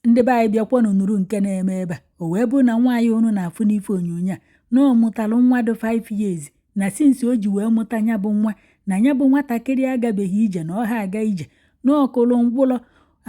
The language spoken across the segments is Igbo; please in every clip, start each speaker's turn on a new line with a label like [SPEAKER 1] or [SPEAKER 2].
[SPEAKER 1] ndị be anyị bịakwanụ nụrụ nke na-eme ebe a o wee bụ na nwaanyị unu na-afụ n'ife onyonyo a na ọ mụtalụ nwa dị 5 years na since o ji wee mụta ya bụ nwa na ya bụ nwatakịrị agabeghị ije na ọ ha aga ije na ọ kụlụ ngwụlọ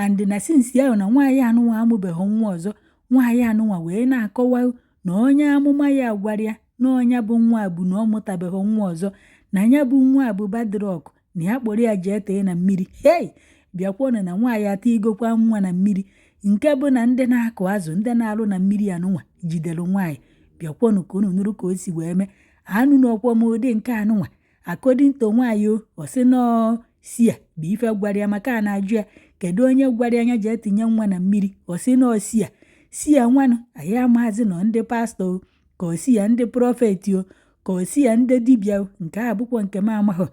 [SPEAKER 1] and na since ahụ na nwaanyị anụnwa amụbeghị nwa ọzọ nwaanyị anụnwa wee na-akọwa na onye amụma ya gwara ya na ọ nya bụ nwa bụ na ọ mụtabeghị nwa ọzọ na ya bụ nwa bụ bad luck na ya kpọrọ ya jee tee na mmiri hei bịakwanụ na nwaanyị atụnyegokwa nwa na mmiri nke bụ na ndị na-akụ azụ ndị na-alụ na mmiri anụnwa jidere nwaanyị bịakwanụ ka unu nụrụ ka o si wee mee anụnọkwa m ụdị nke anụnwa according to nwaanyị o ọ sị na ọ seer bụ ife gwara ya maka a na-ajụ ya kedu onye gwara ya jee tinye nwa na mmiri ọ sị na ọ seer seer nwanụ anyị amaghazị na ọ ndị pastor ka ọ seer ndị prophet o ka ọ seer ndị dibịa o nke a bụkwa nke m amaghị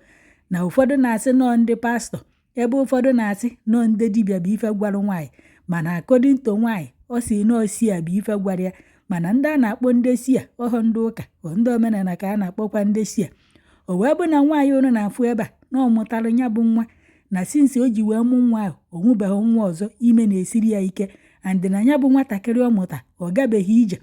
[SPEAKER 1] na ụfọdụ na-asị na ọ ndị pastor ebe ụfọdụ na-asị na ọ ndị dibịa bụ ife gwara nwaanyị mana according to nwaanyị ọ sị na ọ seer bụ ife gwara ya mana ndị a na-akpọ ndị seer ọ bụ ndị ụka ọ ndị omenala ka a na-akpọkwa ndị seer o wee bụ na nwaanyị unu na-afụ ebe a na ọ mụtara nya bụ nwa na since o ji wee mụ nwa ahụ ọ mụbeghị nwa ọzọ ime na-esiri ya ike and na ya bụ nwatakịrị ọ mụta ọ gabeghị ije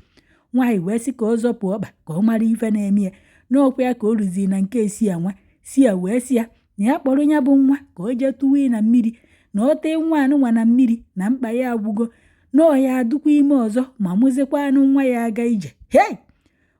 [SPEAKER 1] nwaanyị wee sị ka ọ zọpụ ọkpa ka ọ mara ife na-eme ya n'okwu ya ka o ruziri na nke seer nwa seer wee sị ya na ya kpọrọ ya bụ nwa ka o jee tụwa na mmiri na ọ tee nwa anụnwa na mmiri na mkpa ya agwụgo na ọ ya adụkwa ime ọzọ ma mụzikwanụ nwa ya aga ije hei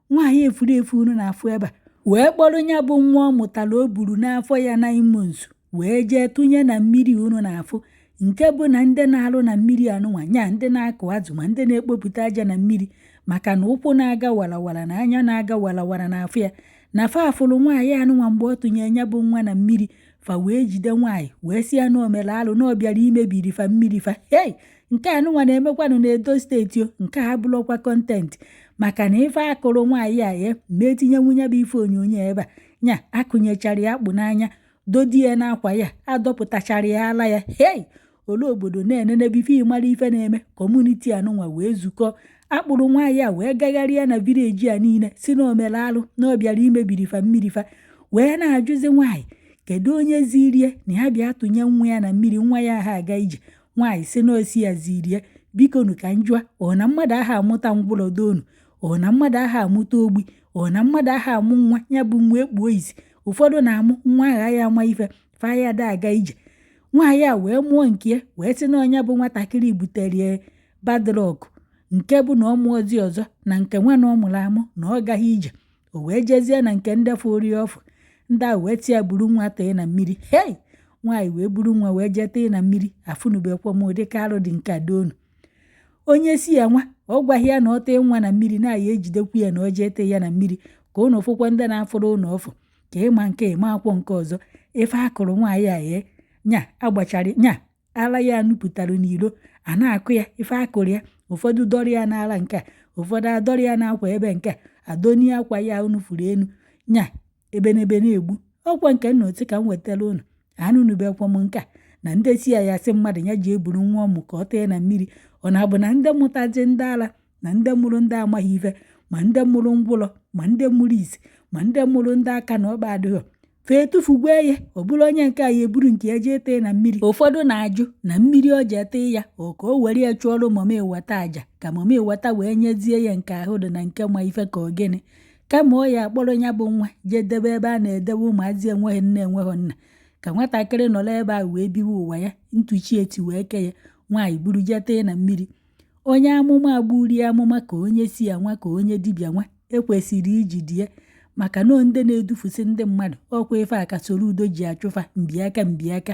[SPEAKER 1] nwaanyị efuru efu unu na-afụ ebe a wee kpọrọ nya bụ nwa ọ mụtara o buru n'afọ ya 9 months wee jee tụnye na mmiri unu na-afụ nke bụ na ndị na-alụ na mmiri anụnwa nya ndị na-akụ azụ ma ndị na-ekpopụta aja na mmiri maka na ụkwụ na-aga warawara na anya na-aga warawara n'afọ ya na fa afụrụ nwaanyị anụnwa mgbe ọ tụnye ya bụ nwa na mmiri fa wee jide nwaanyị wee sị ya na o mere alụ na ọ bịara imebiri fa mmiri fa hei nke anụnwa na-emekwanụ n'Edo State o nke a bụrọkwa content maka na ife a kụrụ nwaanyị a a ma etinyenwu nya bụ ife onyonyo ebe a nya akụnyechara ya akpụ n'anya dodi ya n'akwa ya adọpụtachara ya ala ya hei ole obodo na-enenebe ife ịmara ife na-eme community anụnwa wee zukọ kpụrụ nwaanyị a wee gagharịa na village a niile sị na o mere alụ na ọ bịara imebiri fa mmiri fa wee na-ajụzi nwaanyị kedu onye ziri ya na ya bịa tụnye nwa ya na mmiri nwa ya ha aga ije nwaanyị sị na ọ seer ziri ya bikonu ka m jụa ọ na mmadụ aha amụta ngwụlọ doonu ọ na mmadụ aha amụta ogbi ọ na mmadụ aha amụ nwa ya bụ nwa ekpuo isi ụfọdụ na-amụ nwa aha ya ama ife fa ya da aga ije nwaanyị a wee mụọ nke ya wee sị na ọ nya bụ nwatakịrị butere bad luck nke bụ na ọ mụọzi ọzọ na nke nwa na ọ mụrụ amụ na ọ gaghị ije o wee jezie na nke ndị fụrụ ya ọfụ ndị a wee sị ya buru nwa tee na mmiri hei nwaanyị wee buru nwa wee jee tee na mmiri afụnubekwa m ụdịka arụ dị nke a doonu onye seer nwa ọ gwaghị ya na ọ tee nwa na mmiri na a ya-ejidekwu ya na ọ jee tee ya na mmiri ka ụnụ fụkwa ndị na-afụrụ ụnụ ọfụ ka ị ma nke a ị makwọ nke ọzọ ife a kụrụ nwaanyị a ye nya agbachara nya ala ya nupụtara n'ilo a na-akụ ya ife a kụrụ ya ụfọdụ dọrọ ya n'ala nke a ụfọdụ adọrọ ya n'akwa ebe nke a adọni akwa ya unu furu enu nya ebenebe na-egbu ọkwa nke na-etu ka m wetara unu anụnụbekwa m nke a na ndị seer ya-asị mmadụ ya jee buru nwa ọ mụ ka ọ tee na mmiri ọ na-abụ na ndị mụtazi ndị ala na ndị mụrụ ndị amaghị ife ma ndị mụrụ ngwụlọ ma ndị mụrụ isi ma ndị mụrụ ndị aka na ọkpa adịghọ fa etufugwe ya ọ bụrụ onye nke a ya eburu nke ya jee tee na mmiri ụfọdụ na-ajụ na mmiri o jee tee ya ọ ka o were ya chụọrọ mami wata aja ka mami wata wee nyezie ya nke ahụ dị na nke ma ife ka ọ gịnị kama ọ ya-akpọrọ ya bụ nwa jee debe ebe a na-edebe ụmụazị enweghị nne enweghị nna ka nwatakịrị nọrọ ebe a wee biwe ụwa ya etu chi ya si wee kee ya nwaanyị buru jee tee na mmiri onye amụma gburu ya amụma ka onye seer nwa ka onye dibịa nwa ekwesịrị ijide ya maka na ndị na-edufusị ndị mmadụ ọkwa ife a ka soludo ji achụ fa mbiaka mbiaka